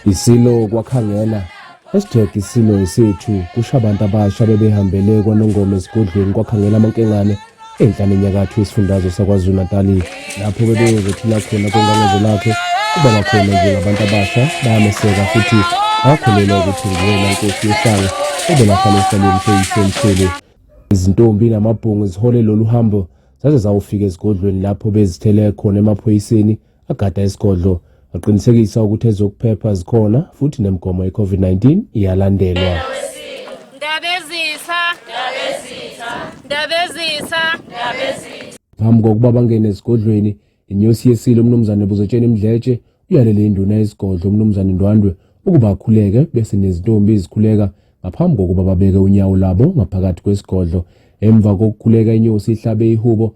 Isilo kwakhangela Hashtag isilo esethu kusho abantu abasha bebehambele kwanongoma esigodlweni kwakhangela amankengane enhla nenyakatho yesifundazwe sakwazulu-natali lapho bebeyozothula khona kongangezo lakhe kuba bakhona njengabantu abasha bayameseka futhi bakholelwa ukuthi nguyena nkosi yohlanga obelahlala esihlalweni seyisemhlele izintombi namabhungu zihole lolu hambo zaze zawufika esigodlweni lapho bezithele khona emaphoyiseni agada isigodlo waqinisekisa ukuthi ezokuphepha zikhona futhi nemigomo ye-COVID-19 iyalandelwa. Phambi kokuba bangene esigodlweni, inyosi yesile uMnumzane Buzotsheni Mdletshe uyalele induna yesigodlo uMnumzane Ndwandwe ukuba akhuleke bese nezintombi izikhuleka ngaphambi kokuba babeke unyawo labo ngaphakathi kwesigodlo. Emva kokukhuleka inyosi ihlabe ihubo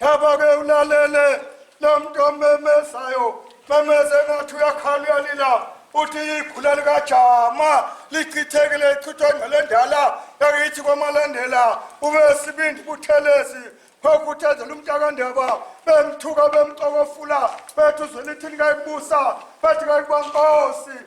Haba ke ulalele lo mntu omemezayo memeze ngathi uyakhala uyalila uthi ikhula likajama lichithekile ichithwe ngcele endala yakithi kwamalandela ube sibindi buthelezi khokuthezela umntakandaba bemthuka bemxokofula bethi uzwelithini kayibusa bethi kayikubankosi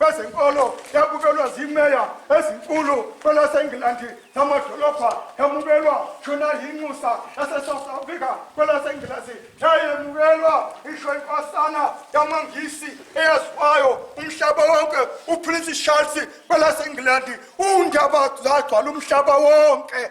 bezenkolo yamukelwa zimeya ezinkulu kwelaseNgilandi namadolobha yamukelwa shona yinxusa yasesouth africa kwelasengilazi yayemukelwa isho inkosana yamangisi eyaziwayo umhlaba wonke uprince charles kwelasengiland undaba zagcwala umhlaba wonke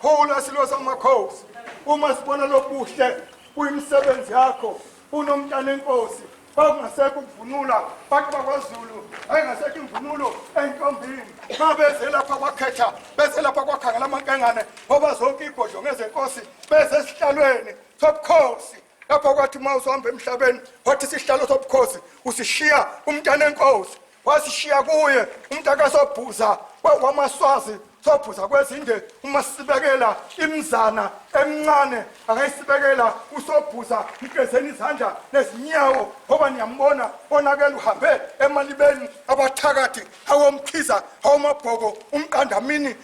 Khula silo samakhosi uma sibona lobuhle kuyimisebenzi yakho unomntana enkosi bakungasekho ukuvunula bantu bakwazulu ayingasekho imvunulo entombini ma beze lapha kwakhetha beze lapha kwakhangela amankengane ngoba zonke igodlo ngezenkosi beze esihlalweni sobukhosi lapha kwathi uma uzohamba emhlabeni wathi isihlalo sobukhosi usishiya umntana enkosi wasishiya kuye umntaka sobhuza wamaswazi sobhuza kwezinde uma sibekela imzana emncane akayisibekela usobhuza mgezeni izandla nezinyawo ngoba niyambona onakele uhambe emalibeni abathakathi awomkhiza awomabhoko umqandamini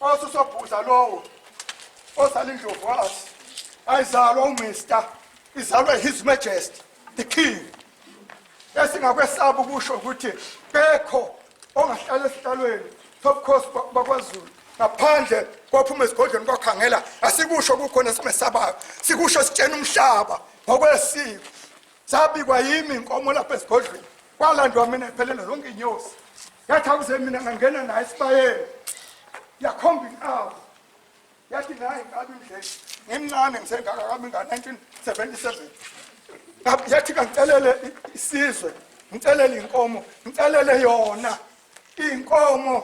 osusobhuza lowo ozala indlovu wathi ayizalwa umister izalwe his majesty the king esingakwesaba ukusho ukuthi kekho ongahlala esihlalweni sobukhosi bakwazulu ngaphandle kwaphuma esigodlweni kwakhangela asikusho kukhona esimesabayo sikusho sitshena umhlaba ngokwesiko sabikwa yimi inkomo lapha esigodlweni kwalandwa mina iphelele zonke inyosi yathi awuze mina ngangena naye esibayeni yakhomba inkawu yathi naye ngabe indlela ngimncane ngisengaka kami nga-1977 yathi kangicelele isizwe ngicelele inkomo ngicelele yona iy'nkomo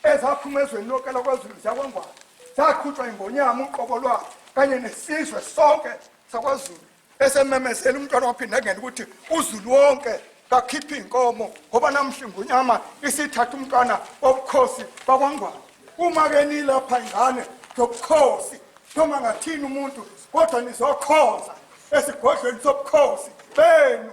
ezaphuma ezweni lonke lakwazulu zakwangwana zaqhutshwa ingonyama uqobo lwayo kanye nesizwe sonke sakwazulu esememezela umntwana waphinde engena ukuthi uzulu wonke kakhiphe iy'nkomo ngoba namhla ingunyama isithatha umntwana wobukhosi bakwangwane uma-ke nilapha ingane zobukhosi noma ngathini umuntu kodwa nizokhonza esigodlweni sobukhosi benu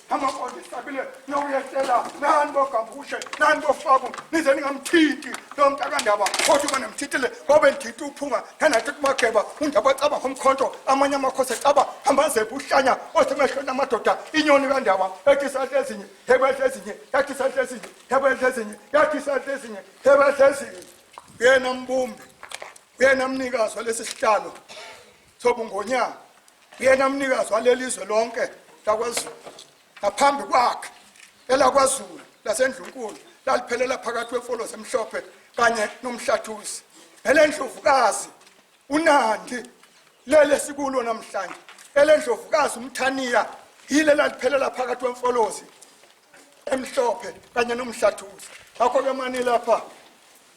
amapolisa abile nokuyehlela nani bogambushe nani bofaku nize ningamthinti lo mntakandaba kodwa uma nimthintile ngobe nditha uphunga nanathi kumageba undaba acaba ngomkhonto amanye amakhosi ecaba hambazephi uhlanya osemehlweni amadoda inyoni kandaba ethi isandla ezinye hebedla ezinye yathi isandla ezinye hebedla ezinye yathi isandla ezinye hebedla ezinye uyena mbumbi uyena mnikazi walesi sihlalo Thobu Ngonyama uyena mnikazi walelizwe lonke lakwaZulu ngaphambi kwakhe elakwaZulu laseNdlunkulu laliphelela phakathi kwemfolo zemhlophe kanye nomhlathuzi elendlovukazi uNandi lele sikulo namhlanje elendlovukazi umthaniya yile laliphelela phakathi kwemfolozi emhlophe kanye nomhlathuzi ngakho-ke manilapha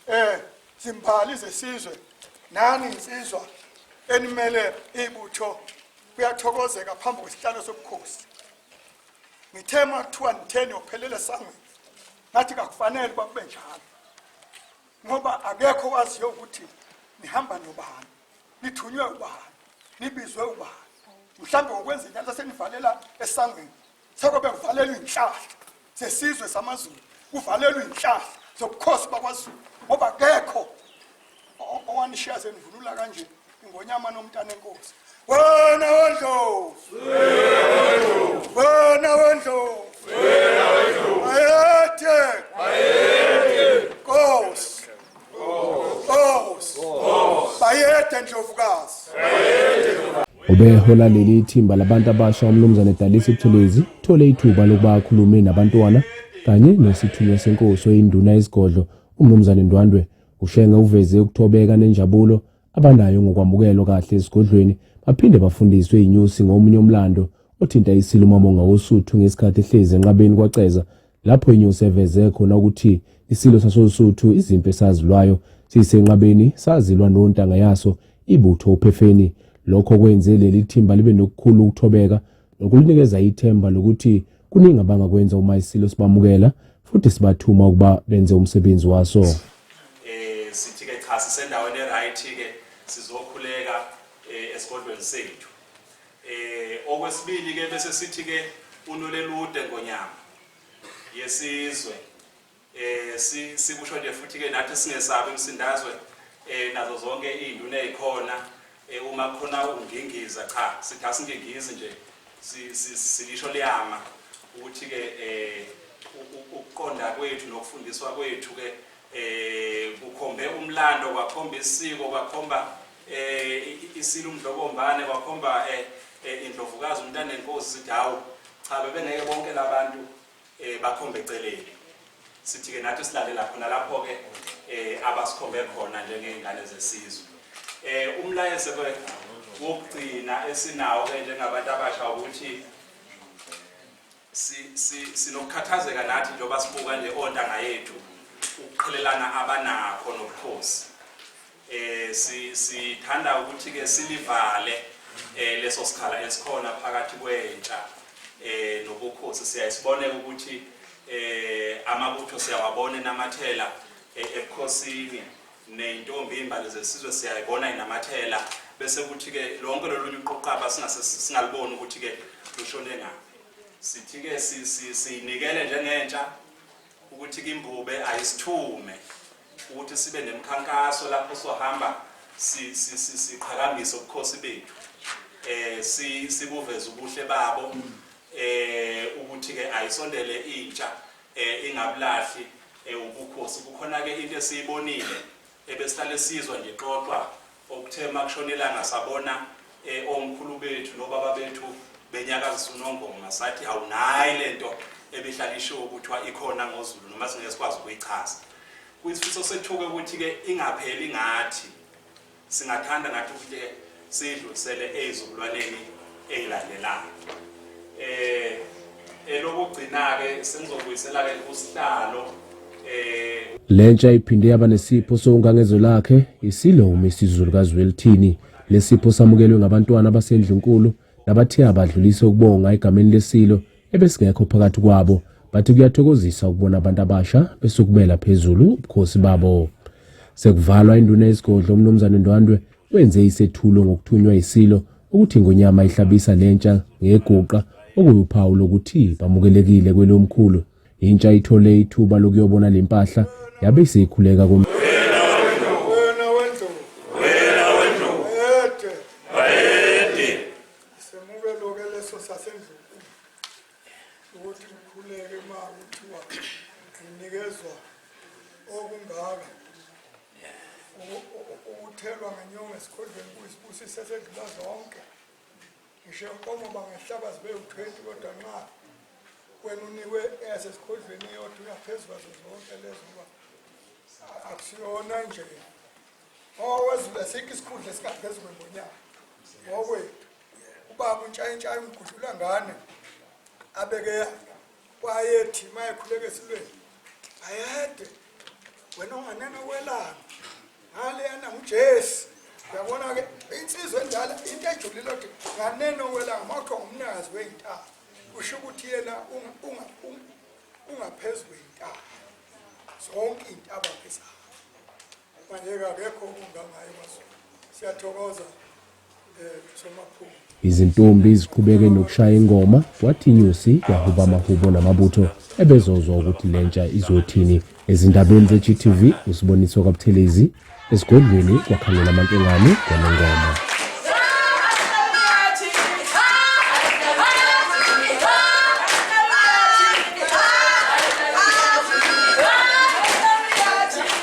um zimbali zesizwe nani nsizwa enimele ibutho kuyathokozeka phambi kwesihlalo sobukhosi ngithe uma kuthiwa nitheni yophelele esangweni ngathi kakufanele uba kube njalo ngoba akekho waziyo ukuthi nihamba nobani nithunywe ubani nibizwe ubani mhlawumbe ngokwenza inyala senivalela esangweni Sekube kuvalelwa inhlahla sesizwe samaZulu, kuvalelwa inhlahla zobukhosi bakwaZulu ngoba kekho owanishiya senivunula kanje ingonyama nomntana enkosi. Wena wendlovu. Wena wendlovu. Wena wendlovu. Ayethe. Ayethe. Nkosi. bayede ndlovukazi ubehola leli thimba labantu abasha umnumzane dalisi buthelezi uthole ithuba lokuba akhulume nabantwana kanye nesithunywa senkosi oyinduna yesigodlo umnumzane ndwandwe ushenge uveze ukuthobeka nenjabulo abanayo ngokwamukelwa kahle esigodlweni baphinde bafundiswe inyusi ngomunye umlando othinta isilumamo ngawosuthu ngesikhathi ehlezi enqabeni kwaceza lapho inyosi eveze khona ukuthi isilo sasoSuthu izimpi esazilwayo sisenqabeni sazilwa nontanga yaso ibutho uphefeni lokho kwenze leli thimba libe nokukhulu ukuthobeka nokulinikeza ithemba lokuthi kuningi abangakwenza uma isilo sibamukela futhi sibathuma ukuba benze umsebenzi waso eh sithi ke cha sisendaweni eright ke sizokhuleka eh, esigodlweni sethu Eh okwesibili ke bese sithi ke unolelude ngonyama yesizwe eh sikusho nje futhi ke nathi singesabi umsindazwe eh nazo zonke izinduna ezikhona eh uma khona ungingiza cha sithi asingingizi nje silisho liyama ukuthi ke eh ukuqonda kwethu nokufundiswa kwethu ke eh kukhombe umlando kwakhomba isiko kwakhomba eh isilo umdlokombane kwakhomba eh, eh indlovukazi umntana enkosi sithi hawu cha bebengeke bonke labantu eh bakhombe eceleni sithi ke nathi silalela khona lapho ke eh abasikhombe khona njengezingane zesizwe eh umlayezo ke wokugcina esinawo ke njengabantu abasha ukuthi Si, si, sinokukhathazeka nathi njengoba sibuka nje ontanga yethu ukuqhelelana abanakho nobukhosi eh si sithanda ukuthi ke silivale eh leso sikhala esikhona phakathi kwentsha eh nobukhosi siyayisibone ukuthi eh amabutho siyawabona enamathela eh, ebukhosini nentombi imbali zesizwe siyayibona inamathela bese kuthi ke lonke lolunye uqoqaba singase singaliboni ukuthi ke lushone ngaphi Sithike siyinikele njengentsha ukuthi kimbube ayisithume ukuthi sibe nemkhankaso lapho sohamba siqhakambise ubukhosi bethu eh sibuveza ubuhle babo eh ukuthi ke ayisondele intsha eh ingabulahli eh, ubukhosi kukhona ke into esiyibonile Ebesihlale sizwa nje xoxwa okuthe makushona ilanga sabona e, omkhulu bethu nobaba bethu benyakazisa unongoma sathi awunayi lento ebihlala ishiwo kuthiwa ikhona ngoZulu noma singeke sikwazi ukuyichaza kuyisifiso sethuke ukuthi ke ingapheli ngathi singathanda nathi ukuthi siyidlulisele ezizukulwaneni ezilandelayo eh elokugcina ke sengizobuyisela ke kusihlalo eh lentsha iphinde yaba nesipho sokungangezo lakhe isilomi isizulu kazwelithini lesipho samukelwe ngabantwana basendlunkulu nabathe abadlulise ukubonga egameni lesilo ebesingekho phakathi kwabo bathi kuyathokozisa ukubona abantu abasha besukumela phezulu ubukhosi babo sekuvalwa induna yesigodlo umnumzane ndwandwe wenze isethulo ngokuthunywa isilo ukuthi ingonyama ihlabisa lentsha ngeguqa okuyuphawu lokuthi bamukelekile kwelomkhulu intsha ithole ithuba lokuyobona lempahla yabe isikhuleka kom ukuthi ukhuleke uma kuthiwa nginikezwa okungaka ukuthelwa ngenyongo esikhondleni kuyisibusiso esedlula zonke ngisho inkomo bangehlaba zibe u-twenty kodwa nxa wena unikwe esesikhondlweni yodwa uyaphezu kwazo zonke lezo uba akusiyona nje Owezulu sikho isikhundla esikaphezulu ngonyaka. Ngokwethu. Ubaba untshayintshayi umgudlula ngane abeke yakhe. Wayethi mayekhuleke esilweni. Ayede. Wena unganena kwelanga. Ngaleyana nguJesu. Uyabona ke insizwa endala into ejulile ukuthi nganeno kwelanga makho ngumnikazi weintaba. Kusho ukuthi yena ungaphezulu weintaba. Zonke intaba phezulu. Izintombi ziqhubeke nokushaya ingoma, kwathi inyosi yahuba amahubo namabutho ebezozwa ukuthi le ntsha izothini. Ezindabeni ze-GTV, uSiboniso kaButhelezi, esigodlweni kwakhangela amankengane kwalengoma.